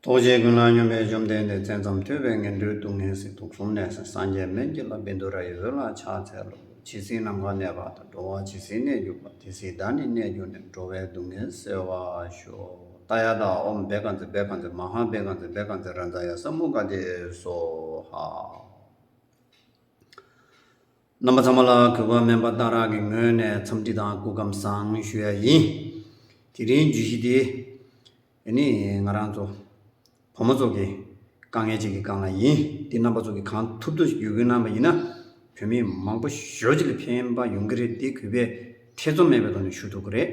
རྟོག་བཅས་ཀུན་སློང་སྙོམས་པའི་བཅོམ་ལྡན་འདས་བཙན་ཙམ་ཐོས་པས་ངན་འགྲོའི་སྡུག་བསྔལ་སྲིད་དུག་གསུམ་ནད་སེལ་སངས་རྒྱས་སྨན་གྱི་ལྷ་བིནྡུ་ར་ཡི་བཟོད་ལ་ཕྱག་འཚལ་ལོ། ཇི་སྲིད་ནམ་མཁའ་གནས་པ་དང་འགྲོ་བ་ཇི་སྲིད་གནས་གྱུར་པ་དེ་སྲིད་བདག་ནི་གནས་གྱུར་ནས་འགྲོ་བའི་སྡུག་བསྔལ་སེལ་བར་ཤོག། ཏཱ་ཡ་ཏཱ་ཨོམ་བེ་ཀ་ཛི་བེ་ཀ་ཛི་མ་ཧཱ་བེ་ཀ་ཛི་བེ་ཀ་ཛི་རཱ་ཛཱ་ཡ་ས་མུ་ཀ་ཏི་སོ་ཧཱ། རྣམ་པ་ཚང་མ་ལ་གུས་པ་སྨན་པ་སྟག་རག་གི་ངོས་ནས་འཚམས་འདྲི་དང་སྐུ་ཁམས་བཟང་ཞུ་ཡ་ཡིན། དེ་རིང་བརྗོད་གཞི་འདི། འདི་ནི་ང་རང་ཚོ་བུ་མོ་ཚོ་གི་དཀའ་ངལ་ཅིག་གི་སྒང་ལ་ཡིན། འདི་རྣམ་པ་ཚོ་གི་གང་ཐུབ་ཐུབ་ཡོད་རྒུ་གནང་བ་ཡིན་ན་བོད་མི་མང་པོ་ཞོ་ཅིག་ལ་ཕན་པ་ཡོང་གི་རེད་འདི་གུས་པས་ཐེ་ཚོམ་མེད་པའི་ཐོག་ནས་ཞུ་ཐུབ་གི་རེད།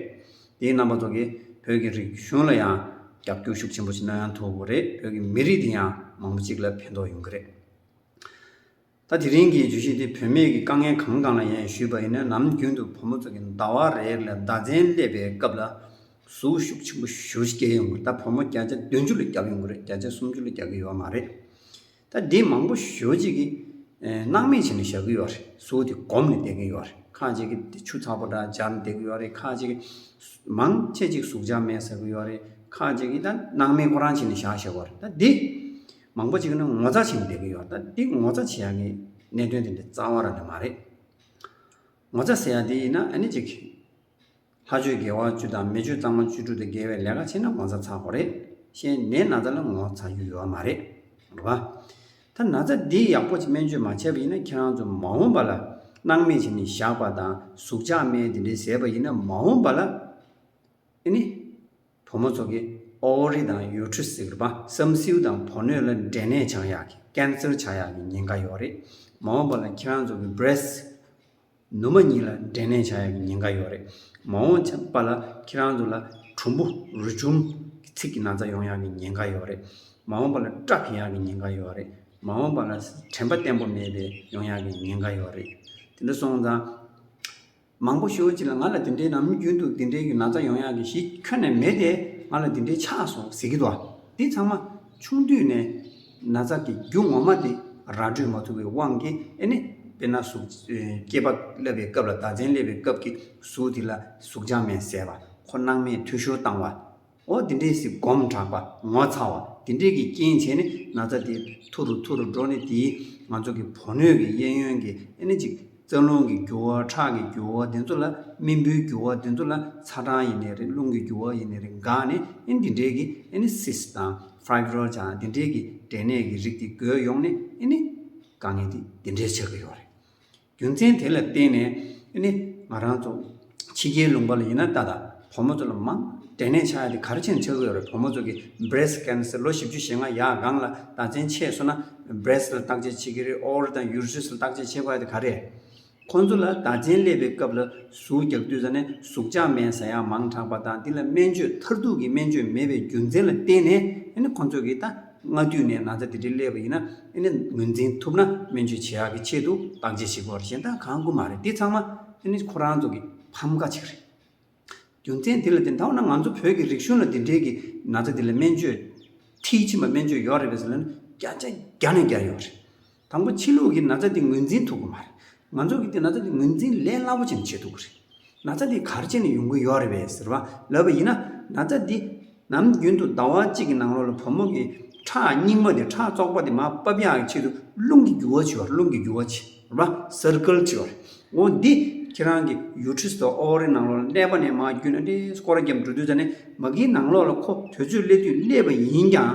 འདི་རྣམ་པ་ཚོ་གི་བོད་ཀྱི་རིག་གཞུང་ལ་ཡང་རྒྱབ་སྐྱོར་ཤུགས་ཆེན་པོ་ཞིག་གནང་ཡང་ཐུབ་གི་རེད་བོད་ཀྱི་མི་རིགས་འདི་ཡང་མང་པོ་ཅིག་ལ་ཕན་ཐོག་ཡོང་གི་རེད། ད་དེ་རིང་གི་བརྗོད་གཞི་འདི་བུད་མེད་ཀྱི་དཀའ་ངལ་གང་གང་ལ་ཡང་ཞུས་པ་ཡིན་ན་ནམ་རྒྱུན་དུ་བུ་མོ་ཚོ་གི་ཟླ་བ་རེར་ལས་ཟླ་མཚན་སླེབས་པའི་སྐབས་ལ་ཟུག་ཤུགས་ཆེན་པོ་བཞུར་སྐྱེ་ཡོང་གི་ད་བུ་མོ་བརྒྱ་ཆ་བདུན་ཅུ་ལ་རྒྱག་ཡོང་གི་རེད་བརྒྱ་ཆ་སུམ་ཅུ་ལ་རྒྱག་གི་ཡོད་མ་རེད། ད་འདི་མང་པོ་ཞོ་གཅིག་གིས་སྣང་མེད་བྱས་ནས་བཞག་གི་ཡོད་རེད་ཟུག་དེ་སྒོམ་ནས་བསྡད་ཀྱི་ཡོད་རེད་ཁ་ཅིག་གིས་དེ་ཆུ་ཚགས་པོ་འདྲ་སྦྱར་ནས་བསྡད་ཀྱི་ཡོད་རེད་ཁ་ཅིག་གིས་མང་ཆེ་གཅིག་ཟུག་ཆ་མེད་ཟེར་གྱི་ཡོད་རེད་ཁ་ཅིག་གིས་ད་སྣང་མེད་ཁོ་རང་བྱས་ནས་བཞག་ཞེས་པ་རེད་ད་འདི། མང་པོ་ཞིག་ནི་ངོ་ཚ་བྱེད་ནས་བསྡད་ཀྱི་ཡོད་ད་འདི་ངོ་ཚ་བྱེད་ཡག་གི་གནད་དོན་དེ་འདྲ་གཙང་བ་རང་ནི་མ་རེད། ངོ་ཚ་ཟེར་ཡག་དེ་ཡིན་ན་ནི་ཅིག། ལྷ་ཆོས་དགེ་བ་བཅུ་དང་མི་ཆོས་གཙང་མ་བཅུ་དྲུག་དེ་དགེ་བའི་ལས་ཀ་བྱེད་ན་ངོ་ཚ་ཚ་གོ་རེད། གཞན་ནད་ན་ཚ་ལ་ངོ་ཚ་རྒྱུ་ཡོད་མ་རེད། རེད་བ། ད་ན་ཚ་འདི་ཡག་པོ་སྨན་བཅོས་མ་བྱས་པ་ཡིན་ན་ཁྱེད་རང་ཚོ་མ་འོངས་པ་ལ་སྣང་སྨན་བྱས་ནས་བཞག་པ་དང་ཟུག་ཆག་སྨན་དེ་འདྲའི་ཟས་པ་ཡིན་ན་མ་འོངས་པ་ལ་ནི། བུ་མོ་ཚོ་གི་ཨོའོ་རི་དང་ཡོའུ་ཁྲུ་ཟེར་བ་བསམ་སེའུ་དང་བོ་ནོས་ལ་འབྲས་ནད་ཆང་ཡག་གི Cancer ཆང་ཡག་གི་ཉེན་ཁ་ཡོག་རེད་མ་འོངས་པ་ལ་ཁྱེད་རང་ཚོ་གི Breast ནུ་མ་གཉིས་ལ་འབྲས་ནད་ཆང་ཡག་གི་ཉེན་ཁ་ཡོག་རེད་མ་འོངས་པ་ལ་ཁྱེད་རང་ཚོ་ལ་གྲུམ་བུ་རུས་ཆུང་གི་ཚིགས་ཀྱི་ན་ཚ་ཡོང་ཡག་གི་ཉེན་ཁ་ཡོག་རེད་མ་འོངས་པ་ལ Truck ཡག་གི་ཉེན་ཁ་ཡོག་རེད་མ་འོངས་པ་ལ་དྲན་པ་བརྟན་པོ་མེད་པའི་ཡོང་ཡག་གི་ཉེན་ཁ་ཡོག་རེད་དེ་འདྲ་སོང་ཙང། མང་པོ་ཞུ་ཅི་ལ་ང་ལ་དེ་འདྲའི་ནམ་རྒྱུན་དུ་དེ་འདྲའི་གི་ན་ཚ་ཡོང་ཡག་གི་གཞི་ཁྱོན་ནས་མེད་དེ་ང་ལ་དེ་འདྲའི་ཆགས་སོང་ཟེར་གི་འདུག་དེ་ཚང་མ་ཆུང་དུས་ནས་ན་ཚ་དེ་རྒྱུ་ངོ་མ་དེ་ར་སྤྲོད་མ་ཐུབ་པའི་དབང་གིས་ཨེ་ནི་དཔེར་ན་གཟུགས་སྐྱེས་པ་བསླབ་པའི་སྐབས་ལ་བརྡ་ཚན་བསླེབ་པའི་སྐབས་ཀྱི་གཟུགས་དེ་ལ་གཟུགས་འཇགས་མེད་ཟེར་བ་ཁོ་སྣང་མེད་འཐུས་ཤོར་བཏང་བ། འོ་དེ་འདྲའི་གཟིགས་སྒོམ་དྲག་པ་ངོ་ཚ་བ་དེ་འདྲས་ཀྱི་རྐྱེན་བྱས་ནས་ན་ཚ་དེ་ཐུ་རུ་ཐུ་རུ་འགྲོ་ནས་དེའི་ང་ཚོ་གི་བོ་སྣོད་ཀྱི་གཡས་གཡོན་གྱི་ཨེ་ནི་ཅིག་རྩ་རླུང་གི་རྒྱུ་བ་ཁྲག་གི་རྒྱུ་བ་དེ་ཚོ་ལ་རྨིན་བུའི་རྒྱུ་བ་དེ་ཚོ་ལ་ཚ་གྲང་ཡི་ནས་རེད་རླུང་གི་རྒྱུ་བ་ཡི་ནས་རེད་འགག་ནས་ཨེ་འདི་འདྲས་ཀྱི་ཨེ་ནི་སིས་དང Fibromyalgia དང་དེ་འདྲས་ཀྱི་འབྲས་ནད་ཀྱི་རིགས་དེ་འགོས་ཡོང་ནས་ཨེ་ནི་དཀའ་ངལ་དེ་འདི་འདྲས་ཆགས་ཀྱི་ཡོད་རེད། རྒྱུ་མཚན་དེ་ལ་བརྟེན་ནས་ནི། ང་རང་ཚོ། ཕྱི་རྒྱལ་ལུང་པ་ལ་ཡིན་ན་ལྟ་ལ། བུ་མོ་ཚོ་ལ་མང། དྲན་ནས་ཆགས་ཡོད་དེ་གར་ཕྱིན་ཆགས་ཀྱི་ཡོད་རེད་བུ་མོ་ཚོ་གི། Breast Cancer། ལོ་བཞི་བཅུ་ཞེ་ལྔ་ཡག་སྒང་ལ་ད་བཙན་ཆས་སོ་ན། Breast། ལ་བརྟག་དཔྱད་བྱེད་ཀྱི་རེད Ovary དང Uterus ལ་བརྟག་དཔྱད་བྱེད་དགོས་ཡོད་དེ་ག་རེད། ཁོང་ཚོ་ལ་ད་བཙན་སླེབས་པའི་སྐབས་ལ་ཟུག་རྒྱག་དུས་ས་ནས་ཟུག་ཆག་མེད་ས་ཡག་མང་དྲགས་པ་དང་དེ་ལ་སྨན་བཅོས་མཐར་ཐུག་གི་སྨན་བཅོས་མེད་པའི་རྒྱུ་མཚན་ལ་བརྟེན་ནས་ནི་ཁོང་ཚོ་གི་ད། སྔ་དུས་ནས་ན་ཚ་དེ་འདྲའི་སླེབས་པ་ཡིན་ན་ནི་ངོས་འཛིན་ཐུབ་ན་སྨན་བཅོས་བྱེད་ཡག་གི་ཆེད་དུ་བདག་འཇལ་བྱེད་དགོས་རེད་གཞན་དག་གང་དགོས་མ་རེད་འདི་ཚང་མ་ནི་ཁོ་རང་ཚོ་གི་ཕམ་ཁ་ཅིག་རེད། རྒྱུ་མཚན་དེ་ལ་དེ་འདྲ་བ་ན་ང་ཚོ་བོད་ཀྱི་རིག་གཞུང་ལ་འདི་འདྲའི་གི་ན་ཚ་དེ་ལ་སྨན་བཅོས་མཐིལ་ཕྱིན་པ་སྨན་བཅོས་ཡོག་རེད་པས་ལ་ནི་བསྐྱར་ཆ་བརྒྱ་ནས་བརྒྱ་ཡོག་རེད། དང་པོ་ཕྱི་ལུགས་ཀྱི་ན་ཚ་དེ་ངོས་འཛིན་ཐུབ་གི་མ་རེད། ང་ཚོ་གིས་དེ་ན་ཚ་དེ་ངོས་འཛིན་ལས་སླ་པོ་ཅན་བྱེད་ཐུབ་གི་རེད། ན་ཚ་དེ་གར་བྱས་ནས་ཡོང་གི་ཡོད་རེད་བས་ཟེར་བ་ལབ་པ་ཡིན་ན། ན་ཚ་འདི། ནམ་རྒྱུན་དུ་ཟླ་བ་གཅིག་གི་ནང་ལོགས་ལ་བུ་མོ་གི། ཁྲག་རྙིང་མ་དེ་ཁྲག་བཙོག་པ་དེ་མ་སྤབ་ཡག་གི་ཆེད་དུ་རླུང་གི་རྒྱུ་བ་བྱེད་པ་རེད་རླུང་གི་རྒྱུ་བ་བྱེད་པ། Circle། བྱེད་པ་རེད། འོ་འདི། ཁྱེད་རང་གི Uterus དང Ovary ནང་ལོགས་ལ་གནས་པ་ནས་མ་རྒྱུ་ན་ཏེ་སྐོར་རྒྱབ་འགྲོ་དུས་ད་ནི་མ་གིའི་ནང་ལོགས་ལ་ཁོ་དོད་ཚོད་སླེབས་དུས་སླེབས་པ་ཡིན་ཀྱང།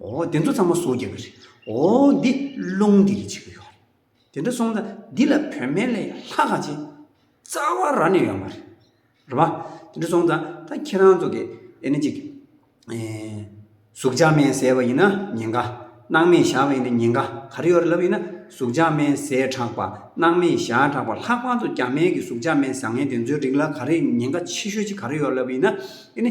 འོ་དེ་ཚོ་ཚང་མ་བཟོ་རྒྱག་གི་རེད། འོ་འདི་རླུང་འདི་རེད་བྱེད་ཀྱི་ཡོད་རེད། དེ་འདྲ་སོང་ད་འདི་ལ་བོད་སྨན་ལས་ལྷག་ག་ཅིག་རྩ་བ་ར་ནས་ཡོད་མ་རེད། རེད་པ། དེ་འདྲ་སོང་ད་ད་ཁྱེད་རང་ཚོ་གི་ཨེ་ནི་ཅིག་ཟུག་འཇགས་སྨན་ཟས་པ་ཡིན་ན་ཉེན་ཁ། སྣང་མེད་བཞག་པ་ཡིན་ན་ཉེན་ཁ་ག་རེ་ཡོད་རེད་ལབ་ཡིན་ན་ཟུག་འཇགས་སྨན་ཟས་དྲགས་པ་སྣང་མེད་བཞག་དྲགས་པ་ལྷག་པར་དུ་རྒྱ་སྨན་གྱི་ཟུག་འཇགས་སྨན་བཟང་ངན་དེ་ཚོའི་རིགས་ལ་ག་རེ་ཉེན་ཁ་ཆེ་ཤོས་ཅིག་ག་རེ་ཡོད་རེད་ལབ་ཡིན་ན་ཨེ་ནི་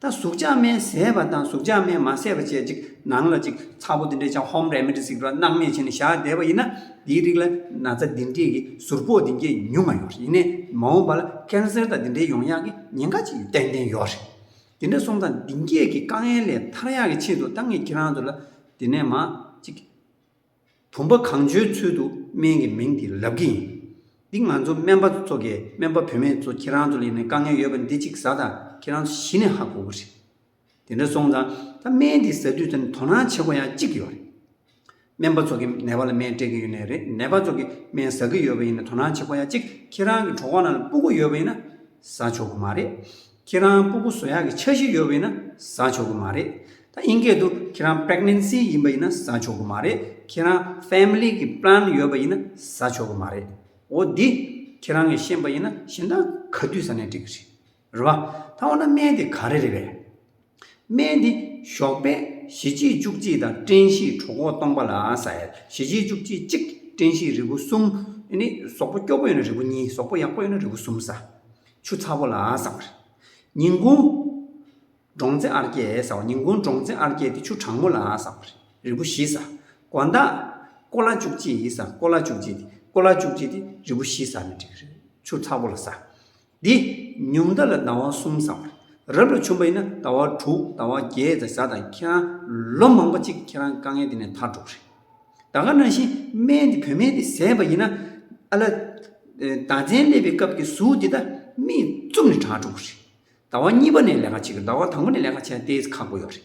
ད་གཟུགས་ཅག་མན་བཟད་པ་དང་གཟུགས་ཅག་མན་མ་བཟད་པ་བཅས་ཅིག་ནང་ལ་ཅིག་ཚ་པོ་འདི་འདྲས་ཅག་ཧོམ་རལ་མེ་དྲི་ཟིག་སྒྲོ་སྣག་མེ་བྱས་ནས་བཞག་བསྡད་པ་ཡིན་ན་འདིའི་རིགས་ལ་ན་ཚ་འདི་འདྲས་ཀྱི་ཟུར་ཕོག་འདི་འདྲས་ཉུང་མ་ཡོང་རེད་ཡིན་ནས་མ་འོངས་པ་ལ་ཀན་སེར་དང་འདི་འདྲས་ཡོང་ཡག་གི་ཉེན་ཁ་ཅིག་ཏན་ཏན་ཡོག་རེད། འདི་འདྲ་སོང་ཙང་འདི་འདྲས་ཀྱི་དཀའ་ངལ་ལས་ཐར་ཡག་གི་ཆེད་དུ་ད་ངས་ཁྱེད་རང་ཚོ་ལ་འདི་ནས་མ་ཅིག། བུམ་པ་གང་བྱོའི་ཚུལ་དུ་སྨན་གྱི་མིང་དེ་ལབ་ཀྱི་ཡིན། འདི་ང་ཚོ་སྨན་པ་ཚོ་དགེ་སྨན་པ་བུད་མེད་ཚོ་ཁྱེད་རང་ཚོ་ལས་ནས་དཀའ་ངལ་ཡོད་པ་འདི་གཅིག་ཟ་ད་ཁྱེད་རང་ཚོ་ཞི་ནས་ཧ་གོ་གི་རེད། དེ་འདྲ་སོང་ཙང་ད་སྨན་འདི་ཟ་དུས་ཙམ་དོ་སྣང་བྱེད་དགོས་ཡག་གཅིག་ཡོད་རེད། སྨན་པ་ཚོ་གི་ནད་པ་ལ་སྨན་སྤྲད་ཀྱི་ཡོད་ནས་རེད་ནད་པ་ཚོ་གི་སྨན་ཟ་གི་ཡོད་པ་ཡིན་ན་དོ་སྣང་བྱེད་དགོས་ཡག་གཅིག་ཁྱེད་རང་གི་གྲོགས་པོ་རྣམས་ལ་སྤུ་གུ་ཡོད་པ་ཡིན་ན་ཟ་ཆོག་གི་མ་རེད། ཁྱེད་རང་སྤུ་གུ་བཟོ་ཡག་གི་འཆར་གཞི་ཡོད་པ་ཡིན་ན་བཟའ་ཆོག་གི་མ་རེད། ད་དབྱིན་སྐད་དུ་ཁྱེད་རང pregnancy ཡིན་པ་ཡིན་ན་བཟའ་ཆོག་གི་མ་རེད། ཁྱེད་རང family གི plan ཡོད་པ་ཡིན་ན་བཟའ་ཆོག་གི་མ་རེད། འོ་འདི་ཁྱེད་རང་གི་ཤེས་པ་ཡིན་ན་གཞན་དག་ག་དུས་ཟ་ནས་འགྲིག་གི་རེད། རེད་བ། ད་འོ་ན་སྨན་དེ་ག་རེ་རེད་པས། སྨན་འདི་ཞོགས་པའི་ཞི་བྱེད་བཅུ་གཅིག་དང་སྐྲན་བཞིའི་གྲོགས་འགོག་སྟོང་པ་ལ་ཟ་ཡ། ཞི་བྱེད་བཅུ་གཅིག་གཅིག་སྐྲན་བཞིའི་རིལ་བུ་གསུམ། ནི། ཟོག་པོ་སྐྱོ་པོ་ཡོད་ན་རིལ་བུ་གཉིས་ཟོག་པོ་ཡག་པོ་ཡོད་ན་རིལ་བུ་གསུམ་ཟ། ཆུ་ཚ་པོ་ལ་ཟ་བར། ཉིན་གུང། འབྲོང་རྩེ་ཨར་སྐྱེ་ཟ་བ་ཉིན་གུང་འབྲོང་རྩེ་ཨར་སྐྱེ་དེ་ཆུ་གྲང་མོ་ལ་ཟ་བར། རིལ་བུ་བཞི་ཟ། གོ་མདའ། ཀོ་ལྭ་བཅུ་གཅིག་ཟ་ཀོ་ལྭ་བཅུ་གཅིག་དེ་ཀོ་ལྭ་བཅུ་གཅིག་དེ་རིལ་བུ་བཞི་ཟ་ན་འགྲིག་གི་རེད། ཆུ་ཚ་པོ་ལ་ཟ། འདི་ཉུང་མཐའ་ལ་ཟླ་བ་གསུམ་བསམ། རབ་ལ་ཆུང་བ་ཡིན་ན་ཟླ་བ་དྲུག་ཟླ་བ་བརྒྱད་དང་བཟའ་དང་ཁྱེད་རང་ལོ་མང་པོ་ཅིག་ཁྱེད་རང་དཀའ་ངལ་འདི་ནས་ཐར་འགྲོ་གི་རེད། ད་ག་ནང་བཞིན་སྨན་འདི་བོད་སྨན་འདི་བཟས་པ་ཡིན་ན། ཨ་ལ། ཟླ་མཚན་སླེབས་པའི་སྐབས་ཀྱི་གཟུགས་འདི་ད་མིས་བཙུམ་ནས་དྲག་འགྲོ་གི་རེད། ཟླ་བ་གཉིས་པ་ནས་ལས་ཀ་བྱེད་དགོས་ཟླ་བ་དང་པོ་ནས་ལས་ཀ་བྱས་ན་དེ་ཁག་པོ་ཡོད་རེད།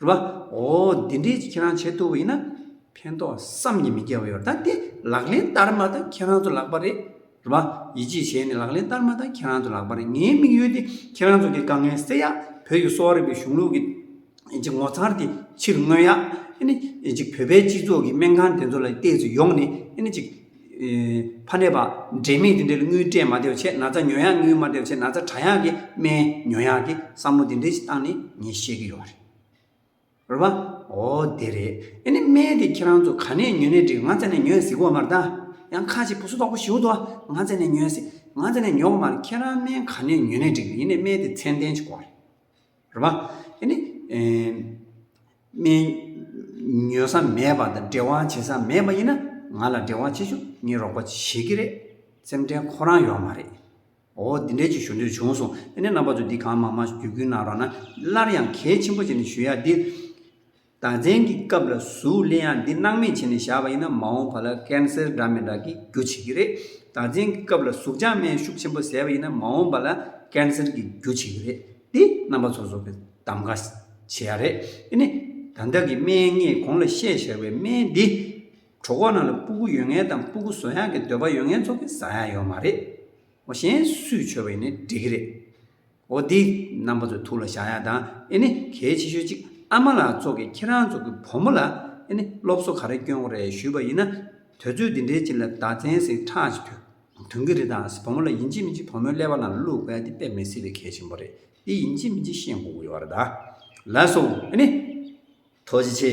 རེད་པ། འོ་འདི་འདྲའི་ཁྱེད་རང་བྱེད་ཐུབ་པ་ཡིན་ན་ཕན་ཐོག་བསམ་གྱི་མི་རྒྱལ་བ་ཡོད་ད་དེ་ལག་ལེན་བསྟར་མ་ད་ཁྱེད་རང་ཚོ་ལག་པ་རེད། རེད་པ། ཡིད་ཆེས་བྱས་ནས་ལག་ལེན་བསྟར་མ་ད་ཁྱེད་རང་ཚོ་ལག་པ་རེད་ངའི་དམིགས་ཡུལ་དེ་ཁྱེད་རང་ཚོ་གི་དཀའ་ངལ་སེལ་ཡ་བོད་ཀྱི་གསོ་བ་རིག་པའི་གཞུང་ལུགས་ཀྱི་ཀྱི་ངོ་མཚར་དེ་ཕྱིར་མངོན་ཡ་ཨ་ནི་ཅིག་བོད་པའི་སྤྱི་ཚོགས་ཀྱི་སྨན་ཁང་དེ་ཚོ་ལ་བལྟས་ཚེ་ཡོང་ནས་ཨ་ནི་ཅིག། ཕ་ནད་པ། འབྲས་མེད་འདི་འདྲའི་དངུལ་སྤྲད་མ་བདེ་བ་ཆེ་ན་ཚ་ཉོ་ཡག་དངུལ་མ་བདེ་བ་ཆེ་ན་ཚ་གྲ་ཡག་གི་སྨན་ཉོ་ཡག་གི་བསམ་བློ་འདི་འདྲའི་ཞིག་བཏང་ནས་ངས་བཤད་ཀྱི་ཡོད་རེད། རེད་བ། འོ་དེ་རེད། ཨེ་ནས་སྨན་དེ་ཁྱེད་རང་ཚོ་ག་ནས་ཉོས་ནས་འགྲིག་ང་ཚ་ནས་ཉོས་ཟིག་གོ་མ་རེད། ཡང་ཁ་ཅིག་བུ་སུ་དོག་པོ་ཞིག་འོ་དོ་ང་ཚ་ནས་ཉོས་ཟིག་ང་ཚ་ནས་ཉོ་གོ་མ་རེད་ཁྱེད་རང་སྨན་ག་ནས་ཉོས་ནས་འགྲིག་ཡིན་ནས་སྨན་དེ་ཚད་ལྡན་ཅིག་གོ་རེད། རེད་མ། དེ་ནི། སྨན། ཉོ་ས་མེད་པ་དང་འབྲེལ་བ་བྱེད་ས་མེད་པ་ཡིན་ན། ང་ལ་འབྲེལ་བ་བྱེད་ཆོག་ངས་རོགས་པ་བྱེད་ཀྱི་རེད། སེམས་ཁྲལ་ཁོ་རང་ཡོད་མ་རེད། འོ་འདི་འདྲའི་ཅིག་ཞུ་འདོད་བྱུང་སོང། དེ་ནས་རྣམ་པ་ཚོས་འདི་གང་མང་མང་བརྒྱུད་སྐུལ་གནང་རོགས་ན། སླར་ཡང་གལ་ཆེན་པོ་ཅིག་ནི་ཞུ་ཡག་འདི། དང་བཙན་གྱི་སྐབས་ལ་གཟུགས་གླེང་ཡག་འདི་སྣང་མེད་བྱས་ནས་བཞག་པ་ཡིན་ན་མ་འོངས་པ་ལ Cancer འདྲ་མི་འདྲ་གི་རྒྱུ་བྱེད་ཀྱི་རེད། དང་བཙན་གྱི་སྐབས་ལ་གཟུགས་ལྗང་སྨན་ཤུགས་ཆེན་པོ་ཟས་པ་ཡིན་ན་མ་འོངས་པ་ལ Cancer གི་རྒྱུ་བྱེད་ཀྱི་རེད། འདི་རྣམ་པ་ཚོ་བཟོ་པའི་གདམ་ག་བྱེད་ཡག་རེད། དེ་ནས་ད་ལྟ་གི་སྨན་ངས་གོང་ལ་བཤད་བཞག་པའི་སྨན་འདི། གྲོ་གོག་རྣམས་ལ་སྤུ་གུ་ཡོད་ངེས་དང་སྤུ་གུ་བཟོ་ཡག་གི་འདོད་པ་ཡོད་ངེས་ཚོ་གིས་བཟའ་ཡག་ཡོད་མ་རེད། མོ་གཞན་སུས་བྱོས་པ་ཡིན་ནས་འགྲིག་གི་རེད། འོ་འདི་རྣམ་པ་ཚོ་ཐུགས་ལ་བཞག་ཡག་དང་ཨེ་ནི་གལ་ཆེ་ཤོས་གཅིག་ཨ་མ་ལགས་ཚོ་གི་ཁྱེད་རང་ཚོ་གི་བུ་མོ་ལ་ཨེ་ནི་སློབ་གསོ་ག་རེ་སྐྱོན་གོ་རེ་ཞུས་པ་ཡིན་ན་དོལ་ཚོས་འདི་འདྲའི་ཅིག་ལ་བརྡ་ཚན་ཟིག་ཁྲག་ཅིག་ཐོན་དོན་གི་རེད་དང་བུ་མོ་ལ་ཡིན་གཅིག་མིན་གཅིག་བུ་མོའི་ཀླད་པ་ནང་ལ་བླུག་པའི་དེ་དཔེ་མི་སྲིད་པའི་གལ་ཆེན་པོ་རེད་འདི་ཡིན་གཅིག་མིན་གཅིག་ཤེས་དགོས་ཀྱི་ཡོད་རེད་ད་ལགས་སོ་ཨེ་ནི། ཐོ་ཅི་ཆེ།